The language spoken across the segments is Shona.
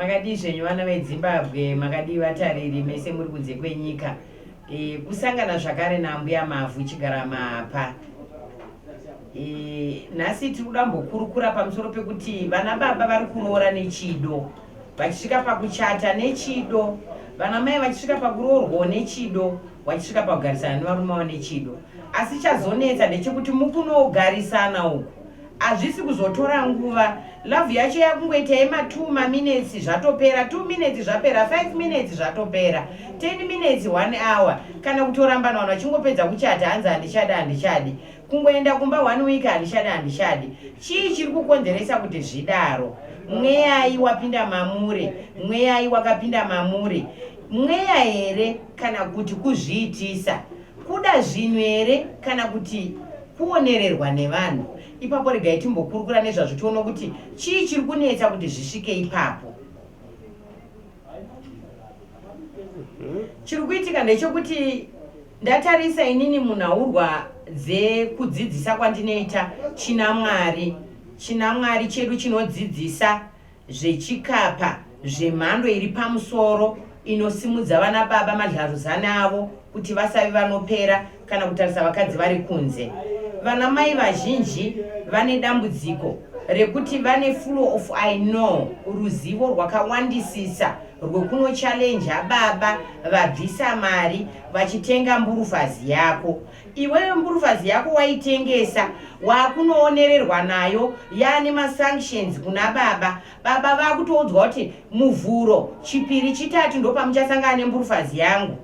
Makadii zvenyu vana vedzimbabwe makadii vatariri mese muri kunze kwenyika e, kusangana zvakare naambuya mavhu chigara mapa e, nhasi tiri kuda mbokurukura pamusoro pekuti vana baba vari kuroora nechido vachisvika pakuchata nechido vana mai vachisvika pakuroorwawo nechido vachisvika pakugarisana nevarume vavo nechido asi chazonetsa ndechekuti mukunogarisana uku Hazvisi kuzotora nguva. Love yacho yakungoita yema 2 ma minutes zvatopera, 2 minutes zvapera, 5 minutes zvatopera, 10 minutes, 1 hour. Kana kutorambana vanhu vachingopedza kuchata hanzi handichadi handichadi. Kungoenda kumba 1 week handichadi handichadi. Chii chiri kukonzeresa kuti zvidaro? Mweyai wapinda mamuri, mweyai wakapinda mamuri. Mweya here kana kuti kuzviitisa? Kuda zvinhu here kana kuti kuonererwa nevanhu? Ipapo regai timbokurukura nezvazvo tione kuti chii chiri kunetsa kuti zvisvike ipapo. Mhm. Chiri kuitika ndechekuti ndatarisa inini munhaurwa dzekudzidzisa kwandinoita china Mwari. China Mwari chedu chinodzidzisa zvechikapa zvemhando iri pamusoro inosimudza vana baba madlaruzani avo kuti vasavi vanopera kana kutarisa vakadzi vari kunze. Vana mai vazhinji vane dambudziko rekuti vane flow of I know, ruzivo rwakawandisisa rwekunochalenja baba vabvisa mari vachitenga mburufazi yako. Iwewe mburufazi yako waitengesa wakunoonererwa nayo yaane masanctions kuna baba. Baba vakutoudzwa kuti muvhuro chipiri chitatu ndopamuchasangana nemburufazi yangu.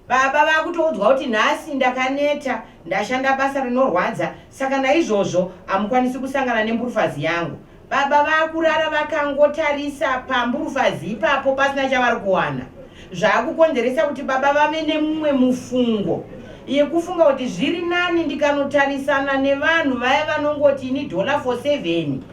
Baba vakutoudzwa kuti nhasi ndakaneta ndashanda basa rinorwadza saka naizvozvo hamukwanisi kusangana nemburufazi yangu. Baba vakurara vakangotarisa pamburufazi ipapo pasina chavari kuwana zvaakukonzeresa kuti baba vave nemumwe mufungo yekufunga kuti zviri nani ndikanotarisana nevanhu vaya vanongoti ini dollar for seven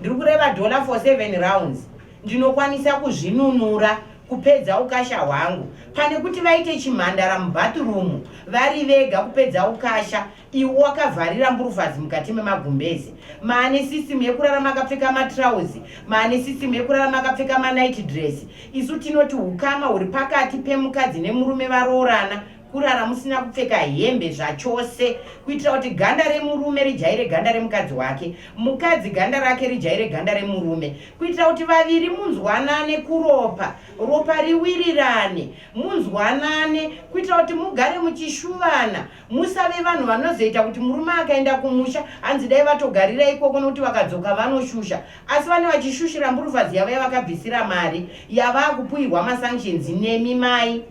ndiri kureva dollar for seven rounds ndinokwanisa kuzvinunura kupedza ukasha hwangu pane kuti vaite chimhandara mubathroom vari vega kupedza ukasha Iwe wakavharira mburufazi mukati memagumbeze, maane system yekurarama akapfeka matrouse, maane system yekurarama akapfeka manight dress. Isu tinoti hukama huri pakati pemukadzi nemurume varoorana kurara musina kupfeka hembe zvachose kuitira kuti ganda remurume rijaire ganda remukadzi wake mukadzi ganda rake rijaire ganda remurume kuitira kuti vaviri munzwanane kuropa ropa riwirirane munzwanane kuitira kuti mugare muchishuvana Musave vanhu vanozoita kuti murume akaenda kumusha hanzi dai vatogarira ikoko nokuti vakadzoka vanoshusha. Asi vane vachishushira mburufazi yavo yavakabvisira mari yavaa kupuhirwa masanctions nemi mai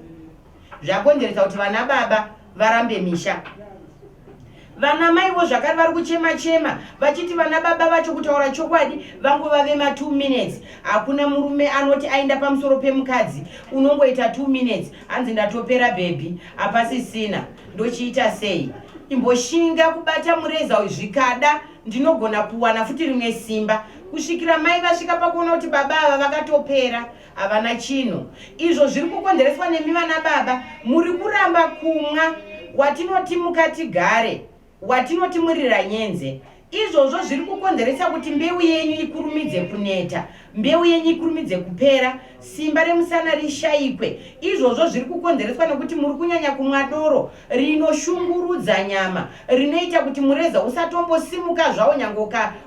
zvakonzeresa kuti vana baba varambe misha. Vana maivo zvakare vari kuchema chema vachiti vana baba vacho kutaura chokwadi vangova vema 2 minutes. Hakuna murume anoti aenda pamusoro pemukadzi unongoita 2 minutes. Hanzi ndatopera baby hapasisina ndochiita sei imboshinga kubata mureza uyu zvikada ndinogona kuwana futi rimwe simba kusvikira mai vasvika pakuona kuti baba ava vakatopera havana chinhu izvo zviri kukonzereswa nemi vana baba muri kuramba kumwa watinoti mukatigare watinoti muriranyenze. Izvozvo zviri kukonzeresa kuti mbeu yenyu ikurumidze kuneta, mbeu yenyu ikurumidze kupera, simba remusana rishayikwe. Izvozvo zviri kukonzereswa nekuti muri kunyanya kumwa doro rinoshungurudza nyama, rinoita kuti mureza usatombosimuka zvawo nyange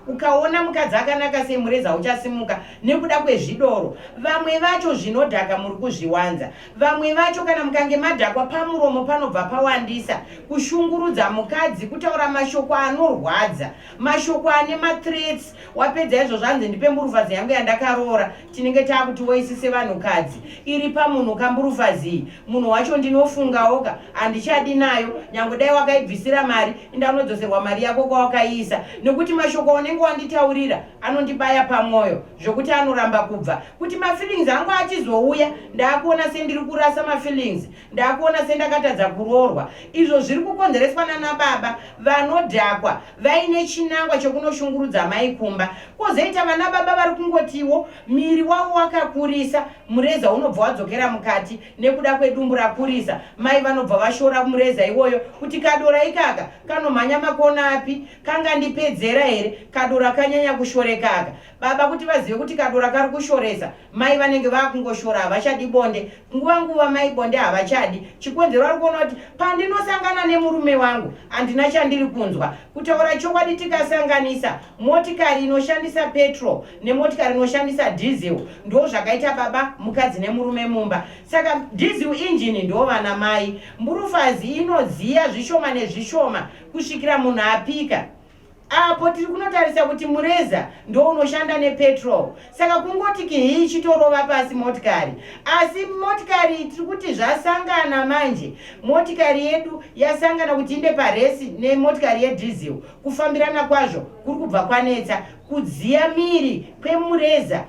ukaona mukadzi akanaka sei mureza uchasimuka nekuda kwezvidoro. Vamwe vacho zvinodhaka muri kuzviwanza. Vamwe vacho kana mukange madhakwa pamuromo panobva pawandisa kushungurudza mukadzi, kutaura mashoko anorwadza, mashoko ane mathreats. Wapedza izvo zvanzi ndipe mburufazi yangu yandakaroora, tinenge taakuti voisi sevanhukadzi iri pamunhu ka mburufazi iyi. Munhu wacho ndinofungawoka handichadi nayo, nyangwe dai wakaibvisira mari inda unodzoserwa mari yako kwawakaiisa nekuti mashoko aunenge wanditaurira anondibaya pamwoyo. zvokuti anoramba kubva kuti mafeelings angu achizouya ndaakuona sendiri kurasa mafeelings ndaakuona sendakatadza kuroorwa izvo zviri kukonzereswa nana baba vanodhakwa vaine chinangwa chokunoshungurudza mai kumba kwozoita vana baba vari kungotiwo miri wavo wakakurisa mureza unobva wadzokera mukati nekuda kwedumbu rakurisa mai vanobva vashora mureza iwoyo kuti kadora ikaka kanomhanya makona api kangandipedzera here kadora kanyanya kushorekaka baba kuti vazive kuti kadora kari kushoresa mai vanenge vakungoshora havachadi bonde nguva nguva mai bonde havachadi chikonzero vari kuona kuti pandinosangana nemurume wangu handina chandiri kunzwa kutaura chokwadi tikasanganisa Motikari inoshandisa petrol nemotikari inoshandisa diesel ndo zvakaita baba mukadzi nemurume mumba. Saka diesel engine ndo vana mai. Mburufazi inodziya zvishoma nezvishoma kusvikira munhu apika. Apo tiri kunotarisa kuti mureza ndo unoshanda nepetrol. Saka kungoti kihii chitorova pasi motikari. Asi motikari tiri kuti zvasangana manje. Motikari yedu yasangana kuti inde paresi nemotikari yediesel. Kufambirana kwazvo kuri kubva kwanetsa. Kudziya miri kwemureza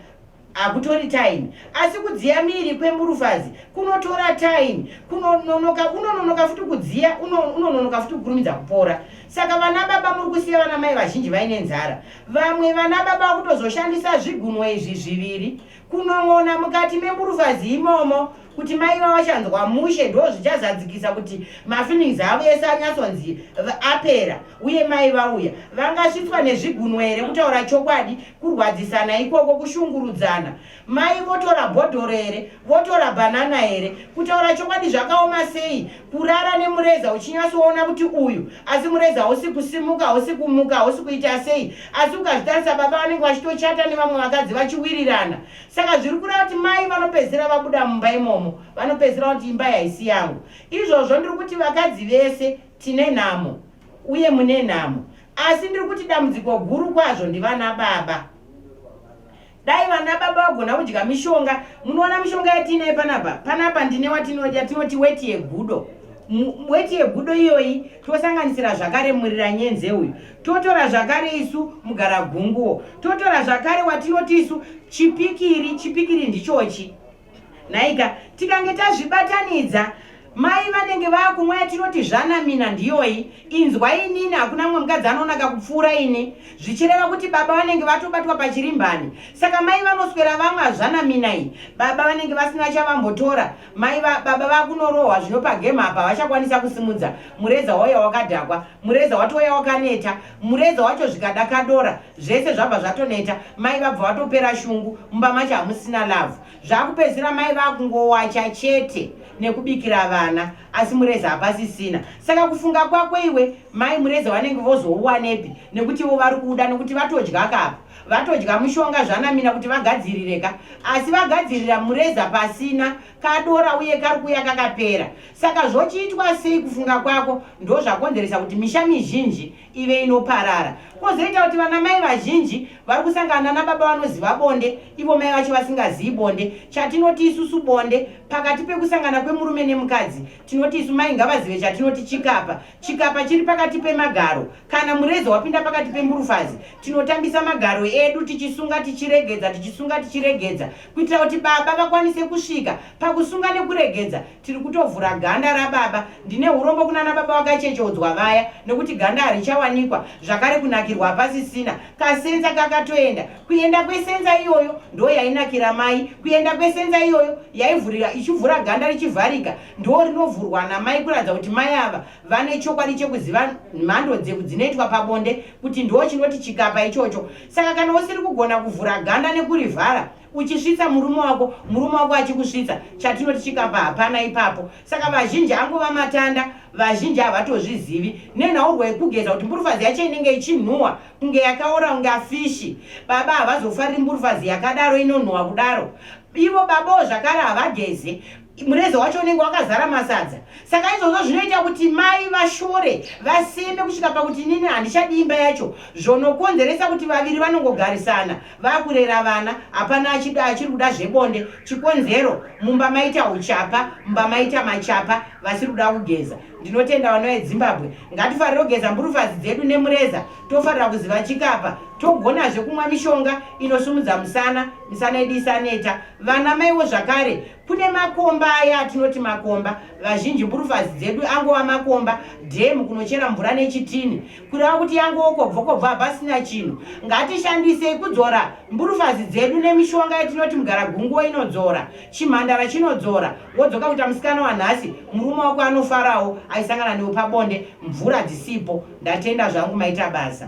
hakutori time asi kudziya miri kwemburufazi kunotora time kunononoka unononoka futi kudziya unononoka futi kukurumidza kupora saka vana baba muri kusiya vana mai vazhinji vaine nzara vamwe vana baba vakutozoshandisa zvigunwa izvi zviviri kunon'ona mukati memburufazi imomo kuti mai vavo vachanzwa mushe ndo zvichazadzikisa kuti mafeelings avo ese anyatsonzi apera uye mai vauya vangasvitswa nezvigunwe here kutaura chokwadi kurwadzisana ikoko kushungurudzana mai votora bhodhoro here votora banana here kutaura chokwadi zvakaoma sei kurara nemureza uchinyatsoona kuti uyu asi mureza hausi kusimuka hausi kumuka hausi kuita sei asi ukazvitarisa baba vanenge vachitochata nevamwe vakadzi vachiwirirana saka zviri kureva kuti mai vanopedzisira vabuda mumba imomo vanopedzisira kuti imba yaisi yangu izvozvo ndiri kuti vakadzi vese tine nhamo uye mune nhamo asi ndiri kuti dambudziko guru kwazvo ndivana baba Dai vana baba vagona kudya mishonga. Munoona mishonga yatiinayo panapa? Panapa ndine watinodya tinoti weti yegudo. Weti yegudo iyoyi tosanganisira zvakare murira nyenze uyu. Totora zvakare isu mugara gunguwo. Totora zvakare watinoti isu chipikiri, chipikiri ndichochi. Nhaika, tikange tazvibatanidza mai vanenge vakumwa yatinoti zvanamina ndiyoyi inzwa inini hakuna mumwe mukadzi anonaka kupfuura ini zvichireva kuti baba vanenge vatobatwa pachirimbani saka mai vanoswera vamwe hazvanamina iyi baba vanenge vasina chavambotora mai va, baba vakunorohwa zvino pagame apa vachakwanisa kusimudza mureza wauya wakadhakwa mureza watouya wakaneta mureza wacho zvikadakadora zvese zvabva zvatoneta mai vabva vatopera shungu mumba macho hamusina love zvakupedzisira mai vakungowacha chete nekubikira vana asi mureze hapasisina saka kufunga kwako iwe mai mureze vanenge vozouwanepi nekuti ivo vari kuda nekuti vatodya kapa vatodya mushonga zvanamina kuti vagadzirireka asi vagadzirira mureza pasina kadora uye kari kuya kakapera saka zvochiitwa sei kufunga kwako ndozvakonzeresa kuti misha mizhinji ive inoparara. Kwozoita kuti vanamai vazhinji vari kusangana nababa vanoziva bonde ivo mai vacho vasingazivi bonde. Chatinoti isusu bonde pakati pekusangana kwemurume nemukadzi, tinoti isu mai ngavazive chatinoti chikapa. Chikapa chiri pakati pemagaro. Kana mureza wapinda pakati pemburufazi, tinotambisa magaro edu tichisunga tichiregedza, tichisunga tichiregedza kuitira kuti baba vakwanise kusvika pakusunga nekuregedza. tiri kutovhura ganda rababa ndine hurombo kunana baba vakachechodzwa vaya nekuti ganda harichawanikwa zvakare kunakirwa hapasisina kasenza kakatoenda kuenda kwesenza iyoyo ndo yainakira mai kuenda kwesenza iyoyo yaivhurira ichivhura ganda richivharika ndo rinovhurwa namai kuratidza kuti mai ava vane chokwadi chekuziva mhando dzeku dzinoitwa pabonde kuti ndo chinoti chikapa ichocho saka kana usiri kugona kuvhura ganda nekurivhara uchisvitsa murume wako murume wako achikusvitsa chatinoti chikapa hapana ipapo saka vazhinji angova matanda vazhinji havatozvizivi nenhaurwa yekugeza kuti mburufazi yacho inenge ichinhuwa kunge yakaora kunge afishi baba havazofariri mburufazi yakadaro inonhuwa kudaro ivo babawo zvakare havageze mureza wacho unenge wakazara masadza saka izvozvo zvinoita kuti mai vashore vaseme kusvika pakuti nini handichadi imba yacho zvonokonzeresa kuti vaviri vanongogarisana vakurera vana hapana achida achiri kuda zvebonde chikonzero mumba maita uchapa mumba maita machapa vasiri kuda kugeza ndinotenda vana vezimbabwe ngatifarire kugeza mburufazi dzedu nemureza tofarira kuziva chikapa togonazve kumwa mishonga inosumudza musana misana yedu isaneta Vana maiwo zvakare kune makomba aya atinoti makomba vazhinji mburufazi dzedu angova makomba dhemu kunochera mvura nechitini kureva kuti yangowo kobvokobva hapasina chinhu ngatishandisei kudzora mburufazi dzedu nemishonga yatinoti mugaragunguwo inodzora chimhandara chinodzora wodzoka kuita musikana wanhasi murume wako anofarawo aisangana newe pabonde mvura dzisipo ndatenda zvangu maita basa